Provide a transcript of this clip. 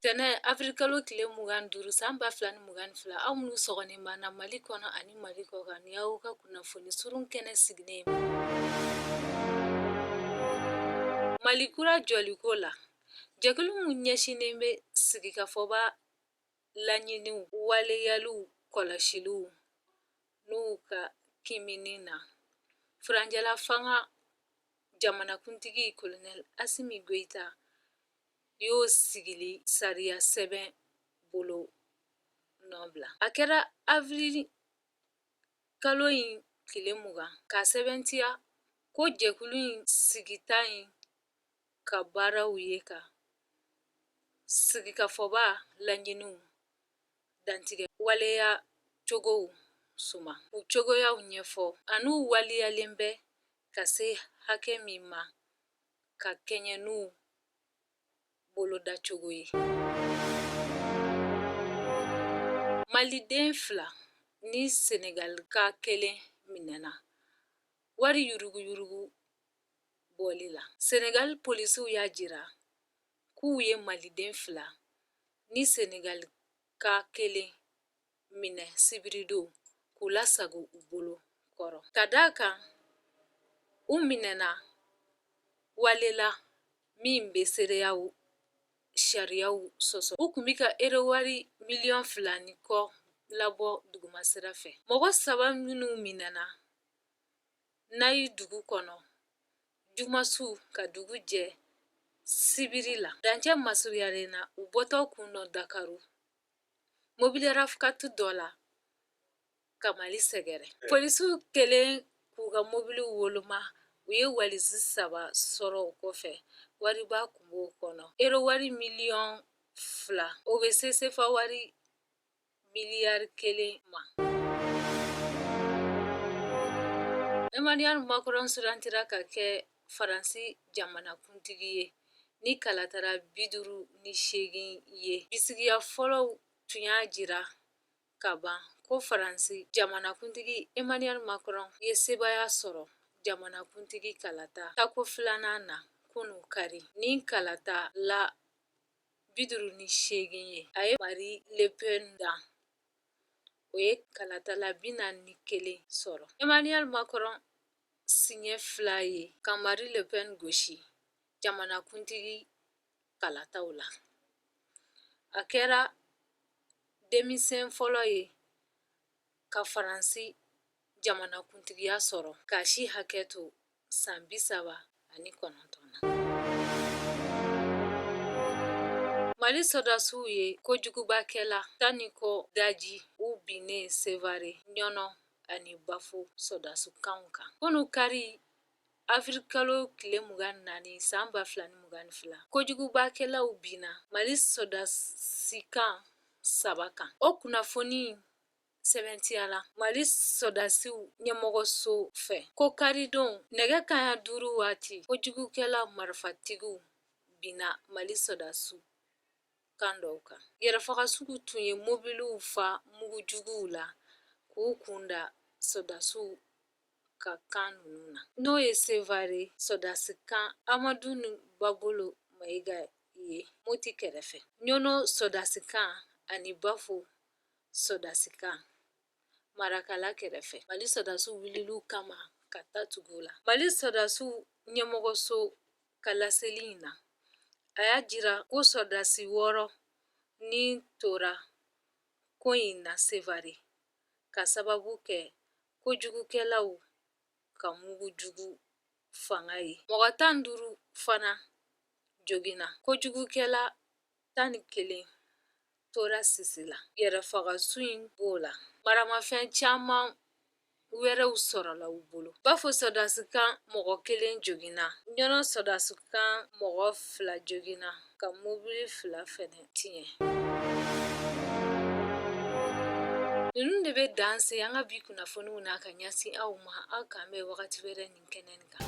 Tɛnɛ avril kalo tile mugan ni duuru san ba fila ni mugan ni fila aw minnu sɔgɔlen b'an na mali kɔnɔ ani mali kɔkan nin y'aw ka kunnafoni surun kɛnɛ sigilen ma mali kura jɔliko la jɛkulu min ɲɛsinnen bɛ sigikafɔba laɲiniw waleyali kɔlɔsiliw n'u ka kiimɛni na furancɛla fanga jamanakuntigi Colonel Assimi Goïta y'o sigili sariya sɛbɛn bolonɔ bila a kɛra avril kalo in tile mugan k'a sɛbɛntiya ko jɛkulu in sigita in ka baaraw ye ka sigikafɔba laɲiniw dantigɛ waleyacogow suma u cogoyaw ɲɛfɔ an'u waleyalen bɛ ka se hakɛ min ma ka kɛɲɛ n'u bolodacogo ye maliden fila ni senegalika kelen minɛna wari yuruguyurugu bɔli la. Senegali polisiw y'a jira k'u ye Maliden fila ni Senegalika kelen minɛ sibiridon k'u lasago u bolo kɔrɔ ka d'a kan u minɛna wale la min bɛ seereyaw sariyaw sɔsɔ u tun bɛ ka ero wari miliyɔn fila ni kɔ labɔ dugumasira fɛ mɔgɔ saba minnu minɛna Nayi dugu kɔnɔ juma su ka dugu jɛ sibiri la dancɛ masurunyalen na u bɔtɔ tun don dakaru mobili RAV4 dɔ la ka mali sɛgɛrɛ polisiw kɛlen k'u ka mobili woloma u ye walisi saba sɔrɔ o kɔfɛ wariba tun b'o kɔnɔ ero wari miliyɔn fila o bɛ se sefa wari miliyari kelen ma. Emmanuel Macron sugandira ka kɛ Faransi jamanakuntigi ye ni kalatala bi duuru ni seegin ye. Bisigiya fɔlɔw tun y'a jira ka ban ko Faransi jamanakuntigi Emmanuel Macron ye sebaaya sɔrɔ jamanakuntigi kalata tako filanan na kunu kari. Ni kalatala bi duuru ni seegin ye a ye Marine Le Pen dan o ye kalatala bi naani ni kelen sɔrɔ Emmanuel Macron siɲɛ fila ye ka Marine Le Pen gosi jamanakuntigi kalataw la a kɛra denmisɛn fɔlɔ ye ka faransi jamanakuntigiya sɔrɔ k'a si hakɛ to san bi saba ani kɔnɔntɔn na mali sɔdasiw ye kojugubakɛla tan ni kɔ daji u binnen sevare ɲɔnɔ ani bafo sɔdasikanw kan kunu kari avril kalo tile mugan ni naani san ba fila ni mugan ni fila kojugubakɛlaw binna mali sɔdasikan saba kan o kunnafoni sɛbɛntiyala mali sɔdasiw ɲɛmɔgɔso fɛ ko karidon nɛgɛ kanɲɛ duuru waati kojugukɛla marifatigiw binna mali sɔdasiw kan dɔw kan yɛrɛfagasuw tun ye mobiliw fa mugujuguw la k'u kunda sɔdasiw ka kan ninnu na n'o ye sevare sɔdasikan amaduni babolo mayiga ye moti kɛrɛfɛ ɲɔnɔ sɔdasikan ani bafo sɔdasikan marakala kɛrɛfɛ mali sɔdasiw wulila u kama ka ta tugu u la mali sɔdasiw ɲɛmɔgɔso ka laseli in na a y'a jira ko sɔdasi wɔɔrɔ ni tora ko in na sevare k'a sababu kɛ kojugukɛlaw ka mugujugu fanga ye mɔgɔ tan ni duuru fana joginna kojugukɛla tan ni kelen tora sisi la yɛrɛfagasu in b'o la maramafɛn caman wɛrɛw sɔrɔla u bolo bafo sɔdasikan mɔgɔ kelen joginna ɲɔnɔ sɔdasikan mɔgɔ fila joginna ka mobili fila fɛnɛ tiɲɛ ninnu de bɛ dan se an ka bi kunnafoniw na ka ɲɛsin aw ma aw k'an bɛn wagati wɛrɛ nin kɛnɛ nin kan